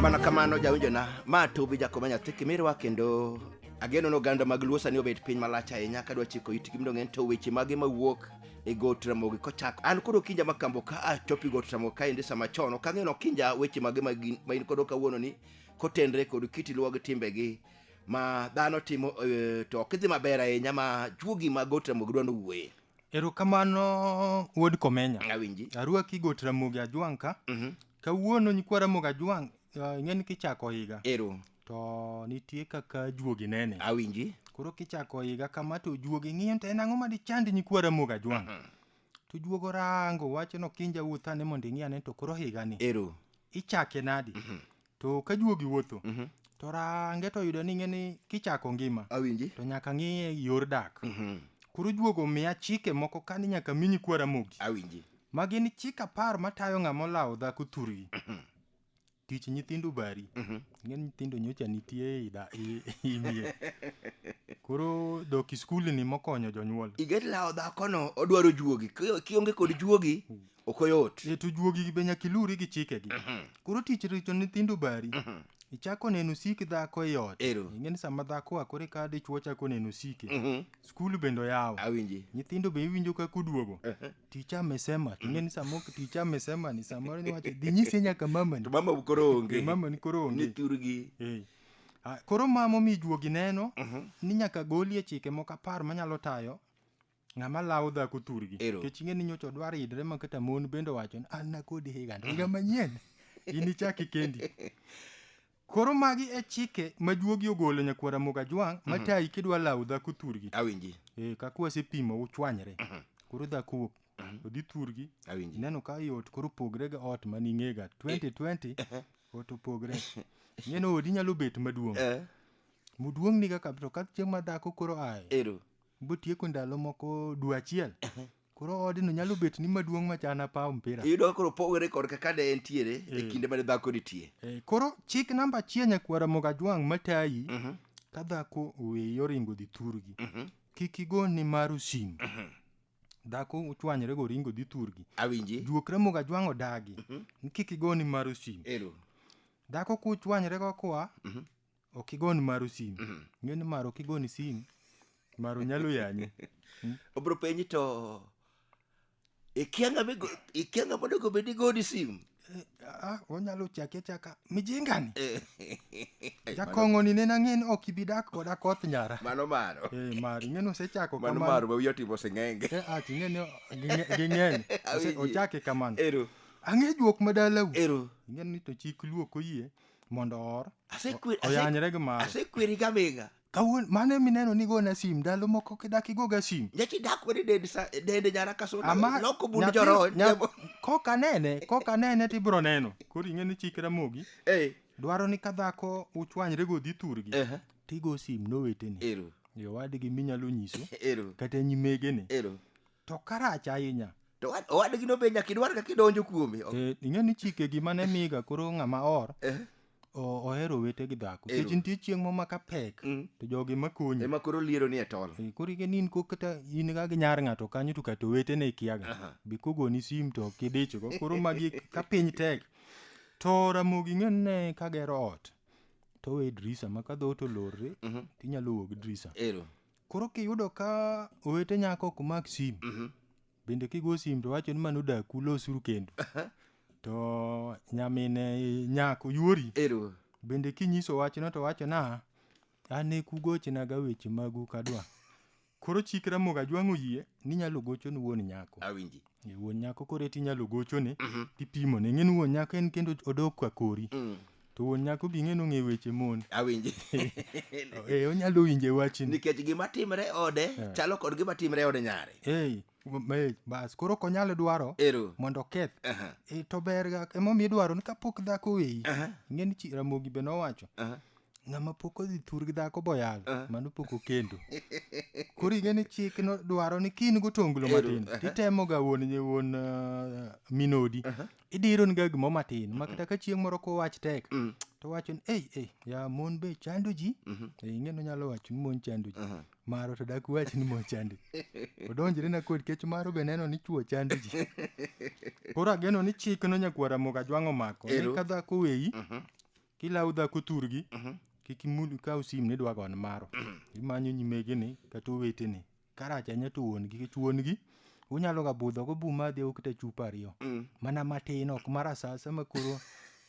mana kamano jawinjona ma tubi jakoma nyathi kimirwa kendo ageno ni oganda mag luo sani obet piny malach ahinya ka dwa chiko itgi mondo ng'en to weche mage mawuok e got ramogi kochako an koro kinja makambo ka achopi got ramogi kaendi sama chon ok ang'eno kinja weche mage ma gin- ma in kodo kawuono ni kotenre kod kit luo gi timbegi ma dhano timo eh, to ok idhi maber ahinya ma juogi ma got ramogi dwa nowuoye Erokamano wuod Komenya. Awinji. Arwaki got Ramogi Ajwang' ka. Mhm. Kawuono nyikwa Ramogi Ajwang' uh, ing'e ni kichako higa Ero. to nitie kaka juogi nene. Awinji. Koro kichako higa kama to juogi ng'iyo to en ang'o ma dichand nyikwa Ramogi Ajwang'. To juogi orango wacho ni okinja wuoth ane mondo ing'i ane to koro higani Ero. ichake nadi. to ka juogi wuotho Mhm. to range to yudo ni ng'eni kichako ngima awinji to nyaka ng'iye yor dak Mhm. koro juogo miya chike moko kani nyaka mi nyikwa ramogi awinji ma gin chik apar matayo ng'ama olawo dhako thurgi tich nyithindo bari Mhm. ng'e ni nyithindo nyocha nitie ei da- i- i mier koro dok i skul ni mokonyo jonyuol iget lawo dhakono odwaro juogi Ki- kionge kod juogi ok oyot e to juogi be nyaka iluri gi chikegi mhm. koro tich richo nyithindo bari mhm. ichako neno sik dhako e ot ing'e ni sama dhako a kore ka dichwo chako neno sike mhm. skul bende oyawo nyithindo be iwinjo kaka oduogo ticha amesema ing'e ni sama ticha amesema ni samoro niwacho dhi nyise nyaka mamani to mama koro onge mamani koro onge niturgi eh. ah, koro mama omi juogi neno ni nyaka golie chike moko apar manyalo tayo Ng'ama lawo dhako thurgi. Ero. Kech ing'e ni nyocha odwaro idre ma kata mon bende owacho ni an nakodi higa to higa manyien. In ichaki kendi. Koro magi e chike ma juogi ogolo nyakwara Moga Jwang' ma tayi kidwa lawo dhako thurgi. Awinji. Eh, kaka wasepimo uchwanyre. Koro dhako wuok. Odhi thurgi. Awinji. Ineno ka i ot koro pogre ga ot ma ning'ega 2020 ot opogre. Ing'e ni odi nyalo bet maduong'. Eh. Muduong' ni kaka to ka chieng' ma dhako koro aye. Ero. Botieko ndalo moko dwe achiel. Koro odno nyalo bet ni maduong' machana paw mpira. Iyudo koro pogore kod kaka ne entiere e Eh. kinde mane dhako nitie. Eh, Koro chik namba achiel nyakwara Mogajwang' matayi Mhm, ka dhako oweyi oringo dhi thurgi. mhm, Kik igo ni maru simu. mhm. Dhako ochwanyre go oringo dhi thurgi. Awinji. Juokre Mogajwang' odagi. Mhm. Kik igo ni maru simu. Ero. Dhako kuchwanyre go kwa Mhm. ok igon maru sim ng'e ni maro kigoni sim maro nyalo yanyi obro penyi to ikia ng'ama igo- ikia ng'ama onego bed igoni sim Eh, ah, onyalo chaki achaka mijingani jakong'oni nena ng'e ni ok ibi dak koda koth nyara mano maro Eh, maro ing'e ni osechako mano kamano. maro ma wiye otimo sing'enge Eh, ah, ting'e ni ging'e- ging'eny Ose- Awinji. ochake kamano ero ang'e juok madalau ero ing'e ni to chik luok oyie mondo oor Asekwe- o- oyanyre gi mare asekweri gaming'a kawuono mano emineno ni gona sim ndalo moko kidak igoga sim nyachi dak wene dende sa- dende nyara ka suna Ama- loko bund nyathi- joroho nya- kok anene kok anene to ibiro neno koro ing'e ni chik ramogi Eh, dwaro ni ka dhako uchwanyre godhi thurgi ehe, tigo sim noweteni ero yo wadgi minyalo nyiso ero kata nyimegene ero to karach ahinya to owad- owadgino be nyaka idwar kaka idonjo kuome Ok- Eh, ing'e ni chike gima ne miga koro ng'ama or Eh, o- ohero wete gi dhako Ero. kech nitie chieng' mo maka pek Mm. to jogi makonyi ema koro liero ni e tol Eh, koro ike ni in ko kata in ga gi nyar ng'ato kanyo to kata owetene ikiaga Aha. be kogoni sim to ok idichgo koro magi ka piny tek to ramogi ng'e ne ka gero ot to we drisa ma ka dhoot olorre Mhm. tinyalo wuok drisa ero Koro kiyudo ka owete nyako ok mak sim, bende kigo sim to wacho ni mano dak ulosuru kendo. To nyamine nyako yuori, Ero. bende kinyiso wachno to wacho na an e kugochna ga weche magu kadwa. Koro chik Ramogi Ajwang' oyie ni inyalo gocho ni wuon nyako. Awinji. Ni Wuon nyako koro eti inyalo gochone Mhm. tipimone. Ing'e ni wuon nyako en kendo odok kwa kori. Mm, To wuon nyako bi ing'e ni ong'e weche mon. awinji Eh, onyalo winje wachni. nikech gima timre e ode Eh. chalo kod gima timre e ode nyare Eh, ma- eh, bas koro ok onyal dwaro ero mondo oketh. Aha, Eh, to ber ga emomiyo idwaro ni kapok dhako weyi. aha, Ing'e ni chi- Ramogi be nowacho aha. Ng'ama pok odhi thur gi dhako boyal, ah. mano pok okendo. Koro ing'e ni chik no dwaro ni kin gotonglo matin, uh-huh. titemo ga wuon nye wuon uh, minodi. Uh-huh. Idiro ni ga gimo matin, ma kata ka chieng' moro ko wach tek, mm. to wacho ni, ei, ei, ya mon be chando ji, mm-hmm. e, ing'e no nyalo wacho ni mon chando ji. Uh-huh. Maro to dak wach ni mon chando ji. Odonjre na kod kech maro be neno ni chuo chando ji. Koro ageno ni chik no nyakwara moga jwang'o mako, ni ka dhako weyi, mm-hmm. kilawo dhako thurgi Mhm. kik imul kaw sim ni dwa gon maro imanyo nyimegeni kata oweteni karach anya to wuon-gi kech wuon-gi unyalo ga budho go buma dhi ukta chupa ariyo Mm. mana matin ok mar asasa ma koro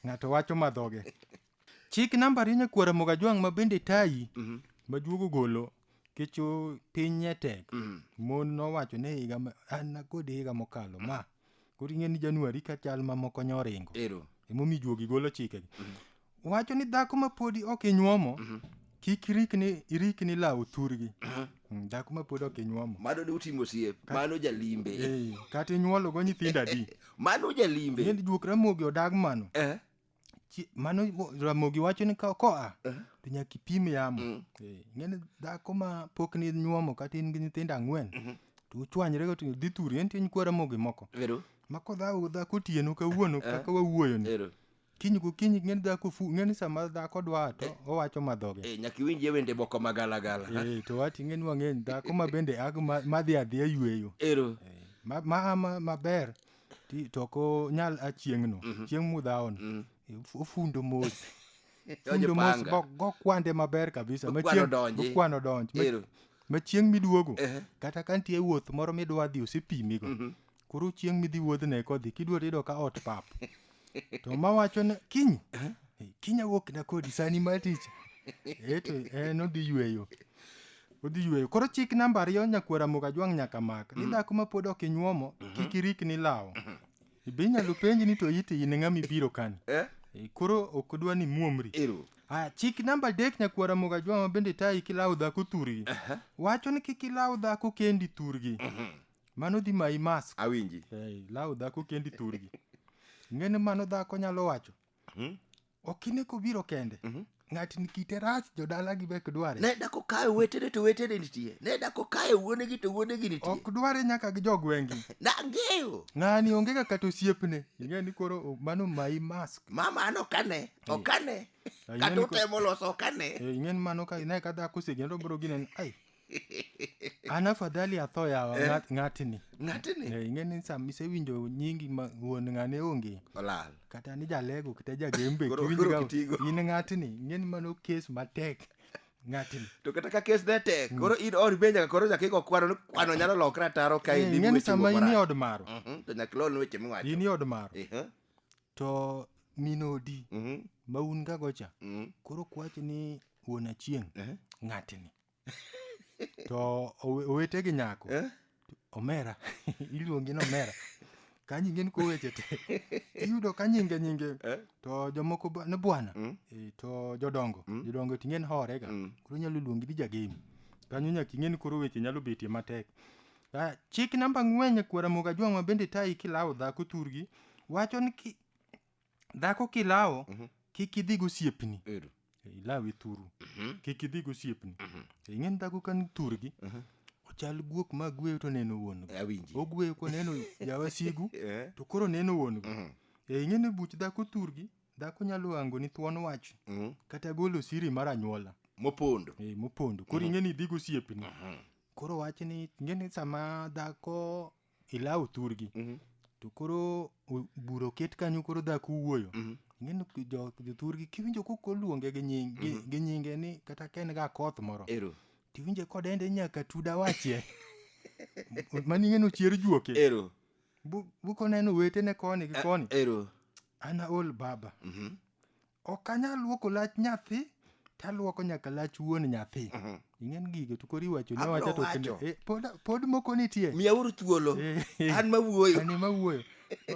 ng'ato wacho madhoge chik namba rinya kuora moga jwang' ma bende tayi Mhm. majuogo golo kecho piny ne tek Mhm. mon nowacho ne higa ma- an kod higa mokalo ma koro ing'e ni januari ka chal mamoko nyo oringo ero emomiyo juogi golo chikegi wacho ni dhako ma podi ok inyuomo kik irikni irikni lawo thurgi Mm, dhako ma podi ok inyuomo mano ne utimo osiep mano jalimbe Eh, kata inyuologo nyithindo adi mano jalimbe ng'eni juok ramogi odag mano eh Chi- mano mo- ramogi wacho ni ka koa Eh. to nyaka ipim yamo Mm. Eh, ing'eni dhako ma pok ni nyuomo kata in gi nyithindo ang'wen Mhm. to uchwanyre go to dhi thuri en tiny kwa ramogi moko Ero, ma kodhago dhako otieno kawuono Eh. kaka wawuoyoni ero. kiny gokinyi ng'eni dhako fu ng'eni sama dhako dwa to owacho madhoge Eh, nyaka iwinjie wende moko ma galagala. Eh, to wati ng'eni wang'eny dhako ma bende ag ma- madhi adhiya yueyo Ero. Eh, ma- ma- ma- maber Ti- to ok onyal a chieng'no chieng' mudhaon F- ofundo mos Donjo fundo mos panga. go- gokwande maber kabisa Okwano Machieng- donji. okwano donj Ma- Ero. ma chieng' miduogo Ehe. kata ka nitie wuoth moro midwa dhi osepimigo koro chieng' midhi wuodhne kodhi kidwa to iyudo ka ot pap to ma wacho ni kiny eh, kiny awuok na kodi sani ma tich eh to en odhi yweyo odhi yweyo koro chik namba ariyo nyakwara moga jwang' nyaka mak ni dhako ma pod ok inyuomo kik irik ni lawo be inyalo penji ni to iti in ng'ama ibiro kani Eh? Eh, koro ok odwa ni muomri Ero. Ah, chik namba adek nyakwara moga jwang' ma bende tayi kilawo dhako thurgi wacho ni kik ilaw dhako kendi thurgi mano dhi mayi mask awinji hey, law dhako kendi thurgi ng'eni mano dhako nyalo wacho hmm? okine kobiro kende mm -hmm. ng'atni kite rach jodalagi be ok dware ne dako kayo wetene to wetene nitie ne dako kayo wuonegi to wuonegi nitie ok dware nyaka gi jogwengi nang'eyo ng'ani onge ga kata osiepne ing'e ni koro mano mayi mask mama an okane okane kata utemo loso okane ing'e ni mano ka ne ka dhako osegendo bro ginen ai an afadhali atho yawa Eh. ng'at- ng'atni ng'atni Eh, ing'eni sama isewinjo nyingi ma wuon ng'ane onge olal kata ni jalego kata jagembe Koro- kiwinjo koro ka- kitigo. in ng'atni ing'eni mano kes matek ng'atni to kata ka kes ne tek koro in ori be nyaka koro nyaka igo kwano ni kwano nyalo lokre ataro ka Eh, in ing'eni sama in e od maro Mhm, to nyaka ilon weche miwacho in e od maro Ehe, to min odi mhm, ma un gago cha mhm, koro kwachi ni wuon achieng' ehe. ng'atni to owe- owete gi nyako Eh? omera iluongi ni omera ka nyinge ni koweche te iyudo ka nyinge nyinge Eh? to jomoko ba- ni bwana Mm. Eh, to jodongo jodongo ting'e ni horega Mm. koro nyalo luongi ni jagemi kanyo nyaka ing'e ni koro weche nyalo betie matek Ah, chik namba ng'wen kwara moga jwang'wa bende tayi kilawo dhako thurgi wacho ni ki- dhako kilawo kik idhi gosiepni Ero. ilawe thuru kik idhi gosiepni ing'eni dhako kan thurgi ochal guok ma gweyo to neno wuon go Awinji. ogweyo koneno jawasigu Eh. to koro neno wuon go e ing'eni buch dhako thurgi dhako nyalo hango ni thuon wach Mhm. kata golo siri mar anyuola Mopondo. e, mopondo koro ing'eni idhi gosiepni koro wach ni ing'eni sama dhako ilawo thurgi Mhm. to koro o- bura oket kanyo koro dhako wuoyo Mhm. ing'eni ki- jo- jothurgi kiwinjo kok oluonge gi nying- gi- gi nyinge ni kata ka en ga koth moro Ero. tiwinje kodende nyaka tuda wachie mani ing'eni ochier juoke Ero. Bu- bukoneno wetene koni gi koni Ero. ana ol baba Mhm. Ok anyal luoko lach nyathi to aluoko nyaka lach wuon nyathi. Mhm. Ing'en gigo to kori wacho ne Abro wacha to kende. wacho. Eh, pod, pod moko nitie. Miyauru thuolo. Eh, An mawuoyo. Ani mawuoyo.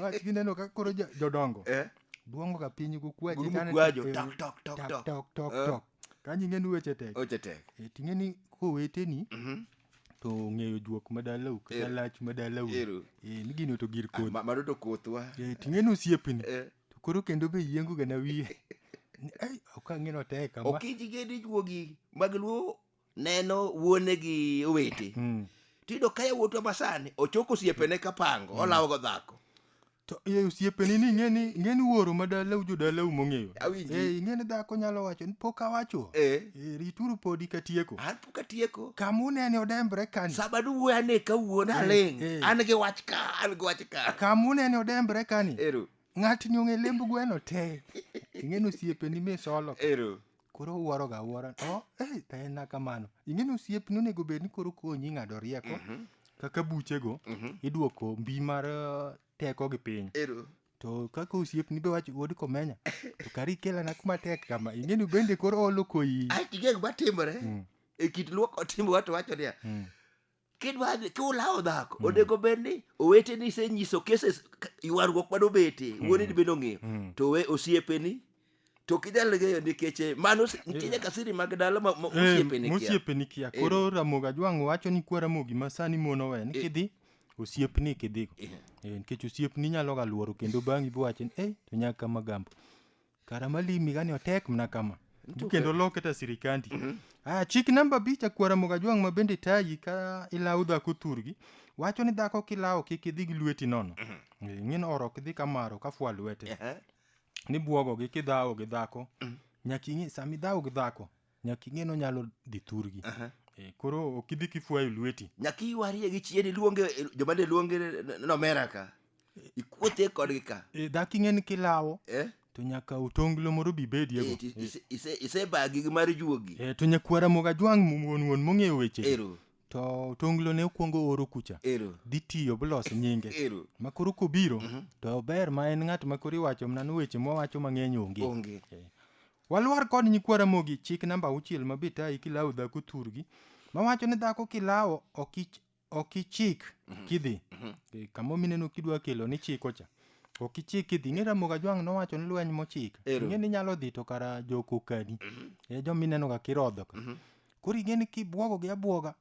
Wach gineno ka koro jo- jodongo. Eh? Duongo ka piny gukwaji. Gurumo tane- kwajo. eh, Tok, tok, tok, tok, tok. tok, tok, Eh. tok. Kanyo ing'en weche tek. Oche tek. Eh, to ing'eni koweteni Mhm. to ong'eyo juok madalau kata Ero. lach madalau. Ero. Eh, ni gino to gir Ah, kodhi. ma- Mano to kothwa. Eh, to ing'eni osiepni. Eh. To koro kendo be yiengo ga na wiye. Ni, Ai, ok ang'e notek kama. ok ijige ni juogi mag luo neno wuone gi owete Mm. tiyudo ka yawuotwa masani ochoko osiepene ka pango olawogo dhako To e osiepeni ni ing'eni ing'eni wuoro ma dalau jo dalau mong'eyo. Awinji. Eh, ing'eni dhako nyalo wacho ni pok awacho. Eh. Eh, rituru podi katieko. An kapok atieko kama unene odembre kani sama duwuoyo ane kawuon aling eh. an gi wach ka an gi wach ka kama unene odembre kani ero ng'atni ong'e lemb gweno te ing'eni osiepeni misolo ero koro uwuoroga awuora o oh, eh, taena kamano ing'eni osiepni onego bed ni koro konyi ng'ado rieko mhm. kaka buchego mhm. iduoko mbi mar eh, teko gi piny to kaka osiepni be wacho wuod komenya to kari kelana kuma tek kama ing'eni bende koro olo koyi ae tigeng matimore Mm. e kit luoko timbe wato wacho niya Mm. kidwa dhi- kiulawo dhako onego bed ni oweteni isenyiso cases k- ywaruok mane obete wuoneni bende ong'eyo Mm. to we osiepeni to ok inyal ng'eyo nikech eh, mano si- nitie nyaka siri mag dala ma- ma- Eh, mosiepeni kia. mosiepeni kia Eh. koro ramogi ajwang'o wacho ni kwa ramogi ma sani mon owe ni Eh. kidhi osiepni kidhigo Eh. Eh, nikech osiepni nyalo ga luoro kendo bang'i biwacho ni eh to nyaka kama gambo kara malimi gani otek mna kama Nitie kendo oke- loke ta sirikandi ah chik namba bicha kwa ramogi ajwang' ma bende tayi ka ilawo dhako thurgi wacho ni dhako kilawo kik idhi gi lweti nono Eh, ing'e ni oro ok dhi kamaro ka fwa lwete Ehe. ni bwogogi kidhawo gi dhako mm. nyaka ing'e sama idhawo gi dhako nyaka ing'e nonyalo dhi thurgi uh -huh. e, eh, koro ok idhi kifwayo lweti nyaka iwarie gi chien iluonge eh, joma ne luonge nomera ka eh. ikuothe kodgi ka e, dhako ing'e ni kilawo eh? to nyaka otonglo moro bi bediego isebagi gi mar juogi e, to nyakwara moga jwang' wuon wuon mong'eyo weche Ero. to tonglo ne okuongo oro kucha Ero. dhi tiyo blos nyinge Ero. ma koro kobiro to ber ma en ng'at ma koro iwacho mana ni weche mwawacho mang'eny onge Onge. Eh. walwar kod nyikwa ramogi chik namba auchiel ma bitayi kilawo dhako thurgi mawacho ni dhako kilawo ok ich- ok ichik kidhi Eh, kamo mineno kidwa kelo ni chiko cha ok ichik kidhi ing'e ramoga jwang' nowacho ni lweny mochik Ero. ing'e ni nyalo dhi to kara jokokadi e jominenoga kirodho ka koro igeni kibwogo gi abwoga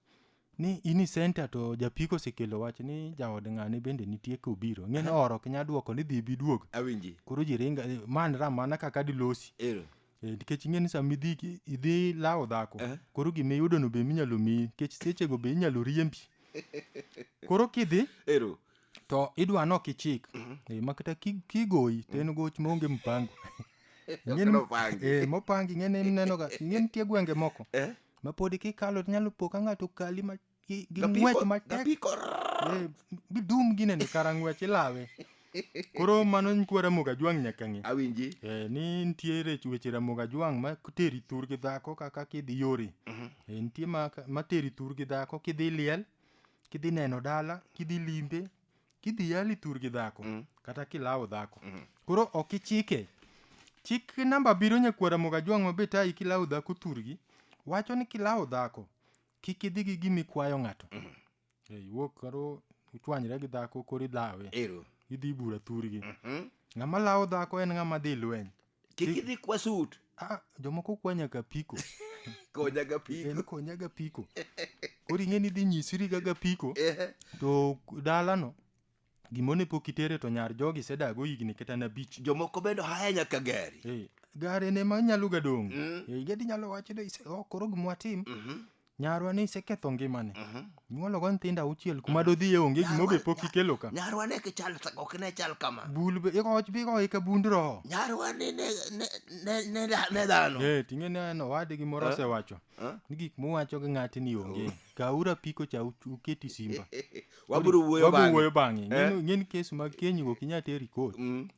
ni in i senta to japiko osekelo wach ni jaod ng'ane bende nitie kobiro ng'e ni oro ok nya dwoko ni dhi ibi duog awinji koro ji ringa eh, man ra mana kaka dilosi ero Eh, nikech ing'e ni sama idhi ki- idhi lawo dhako Eh. koro gima iyudono be minyalo miyi nikech sechego be inyalo riembi koro kidhi ero to idwa nok ichik Eh, ma kata ki- kigoyi to en goch maonge mpango Ing'eni- Okelo pangi. eh, mopangi ing'eni inenoga ing'eni nitie gwenge moko Eh? ma podi kikalo to nyalo po ka ng'ato kali ma- gi gi Gapiko- ng'wech matek gapiko. Eh, bidum gine ni kara ng'wech ilawe koro mano nyikwa ramoga jwang' nyaka ng'e awinji Eh, ni nitiere weche ramoga jwang' ma teri thur gi dhako kaka kidhi yore Eh, nitie ma, ma teri thur gi dhako kidhi liel kidhi neno dala kidhi limbe kidhi yali tur gi dhako kata kilawo dhako koro ok ichike chik namba abiriyo nyakwara mogajwang' mabe tayi kilawo dhako turgi wacho ni kilawo dhako kik idhi gi gima ikwayo ng'ato Eh, iwuok koro uchwanyre gi dhako koro ilawe ero idhi bura thurgi ng'ama lawo dhako en ng'ama dhi lweny kik idhi kwa sut ah, jomoko kwa nyaka piko konya ga piko en konya ga piko koro ing'e ni dhi nyisiri ga ga piko Ehe. to dalano gimone pok itere to nyar jogi sedago higni kata na bich jomoko bende haya nyaka gari Eh, gare ne ma nyalo ga dong' Eh, gadi nyalo wacho ni "Ise- oh, koro gimwatim Nyarwa ne iseketho ngimane. Mhm. Nyuolo go nyithindo auchiel kuma dodhiye onge gima be pok ikelo ka. Nyarwa ne kichal ok ne chal kama. Bul be ikoch be ikoch ka bund roho. Nyarwa ne ne ne ne ne dhano. Eh tinge ne no wadi gi moro eh? osewacho. Eh? Ni gik muwacho gi ng'ati ni onge. Oh. Ka ura piko cha uketi simba. Waburu wuoyo bang'e. Waburu wuoyo bang'e. Eh? Ngin kes mag kenyi go kinya teri kot. Mm.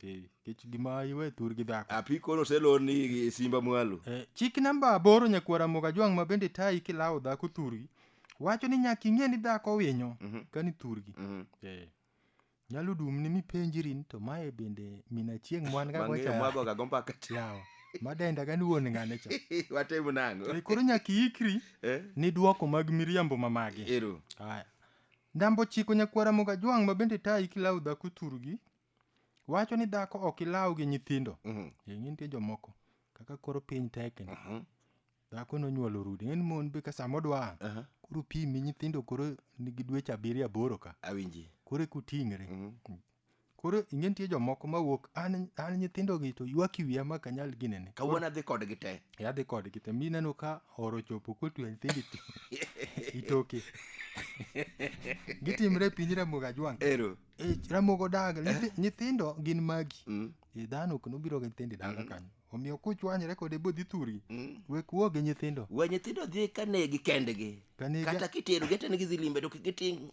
Kech gima iwe thurgi dhako. Apiko no selon ni simba mwalo. Eh, chik namba aboro nyakwara moga jwang' ma bende tayi kilawo dhako thurgi wacho ni nyaka ing'e ni dhako winyo Mhm. kani thurgi Mhm. eh. nyalo dumni mipenjiri ni to mae bende min achieng' mwan ga Wang'eyo gocha mwago ga gombaka. yawa madenda gani wuon ng'ane cha Watim nango. Eh, koro nyaka iikri Eh? ni dwoko mag miriambo ma magi Ero. Aya. Ndambo chiko nyakwara moga jwang' ma bende tayi kilawo dhako thurgi wacho ni dhako ok ilaw gi nyithindo Mhm. ing'e nitie jomoko kaka koro piny tekni Mhm. dhako nonyuolo rudi ng'eni mon be ka sama odwa Aha. koro pimi nyithindo koro nigi dweche abiriyo aboro ka awinji koro ekuting're Mhm. koro ing'e nitie jomoko mawuok an an nyithindogi to ywak i wiya ma ok anyal ginene kawuono adhi kodgi te yadhi kodgi te mineno ka oro chopo kotwe nyithindo ito- itoke gitimre e piny ramoga jwang ero Eh, ramogo daga Nyithi- nyithindo gin magi Mm. Eh, dhano ok nobiro gi nyithindo e dala kanyo omiyo kuchwanyre kode bodhi thuri Mm. wek wuo gi nyithindo we nyithindo dhi ka negi kendgi Kanegi- kata kitero gete nigi dhi limbe to kik giting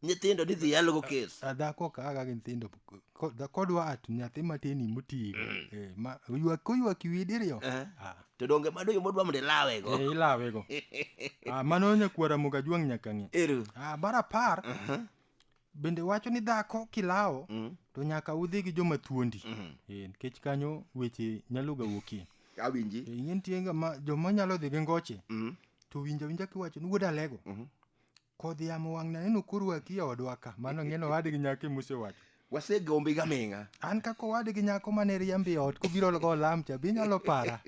nyithindo ni dhi yalogo kes Ah, dhako kaga gi nyithindo Ko- dha- kodwa at nyathi matini motigo Eh, ma- oywak- koywak iwi diriyo Eh. Ah, to donge mano yo modwa mondo ilawego eh, ilawego Ah, mano nyakwara moga juang' nyaka ng'e ero Ah, mar apar bende wacho ni dhako kilawo mm. to nyaka udhi gi joma thuondi mm. e, nikech kanyo weche nyalo ga wuokie awinji e, ing'e nitie joma nyalo dhi gi ngoche mm. to winja winja kiwacho ni wuod alego mm -hmm. kodhi yamo wang' naneno korwaki e odwa ka mano ng'eno owadgi nyako emusewacho wasegombi ga ming'a an kaka owadgi nyako mane riambi e ot kobiro go olam cha be inyalo para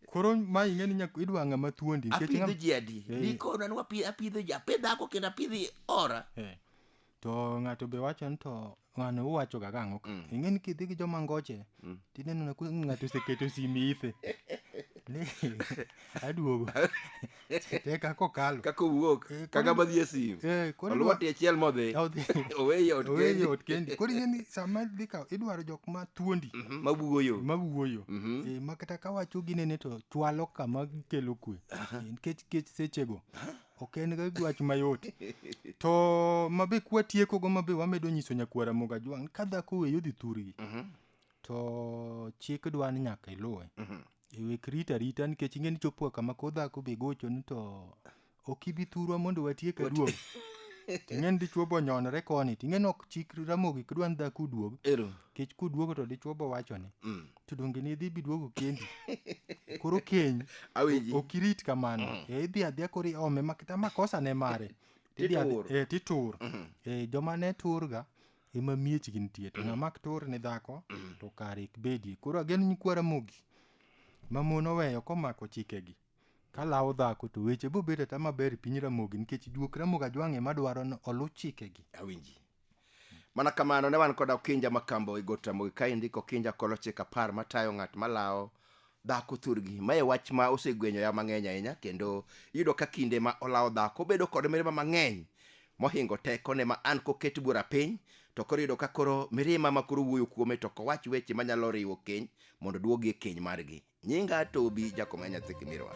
Koro ma ing'e ni nyak idwa ng'ama thuondi. nikech apidho ng'ama- ji adi Eh. nikona ni wapi- apidho ji apidh dhako kendo apidhi ora Eh. To ng'ato be wacho ni to ng'ano uwacho ga gang'o ka. Ing'e ni kidhi gi joma ngoche. Tineno na ku- ng'ato oseketo simi ithe. Ni aduogo. te kaka okalo kaka owuok Eh, kaka koro- madhi e sim Eh, koro idwa- olwati achiel modhi Odhi. oweye ot Oweye kendi ot kendi koro ing'e ni sama dhi kawo idwaro jok ma thuondi Mhm, mawuoyo ma wuoyo Mhm. Eh, ma kata ka wacho ginene to chwalo kama gikelo kwe Eh, nikech kech sechego ok en ga wach mayot to mabe kwatiekogo mabe wamedo nyiso nyakwara moga jwang' ka dhako weyo dhi thurgi Mhm, to chik dwa ni nyaka iluwe mhm. Ewek rita rita nikech ing'e ni chopoa kama koro dhako be gochoni to ok ibi thurwa mondo watiek aduog. Ting'e ni dichwo bo nyonore koni, ting'e ni ok chik ramogi kidwa ni dhako uduog. Ero. Nikech kuduogo to dichwo bo wachoni. Mm. To donge ne idhi biduogo kendi. Koro keny Awinji. ok irit kamano. E idhi adhiya koro iome makata makosa ne mare. Tidhi adhi- Titur. Eh, titur. Eh, joma ne turga ema miechgi nitie to ng'ama ok tur ne dhako to kare ok bedie koro ageno nyikwa ramogi ma mon oweyo komako chikegi kalawo dhako to weche bo bedo ata maber e piny ramogi nikech juok ramogi ajwang'e madwaro ni oluw chikegi awinji mana kamano ne wan kod okinja makambo e got ramogi kaendi kokinja kolochik apar matayo ng'at malawo dhako thurgi ma e wach ma osegwenyoya mang'eny ahinya kendo iyudo ka kinde ma olawo dhako bedo kod mirima mang'eny mohingo tekone ma an koket bura piny to koro iyudo ka koro mirima ma koro wuoyo kuome to kowach weche manyalo riwo keny mondo duogi e keny margi nyinga tobi jakoma nyathi kimirwa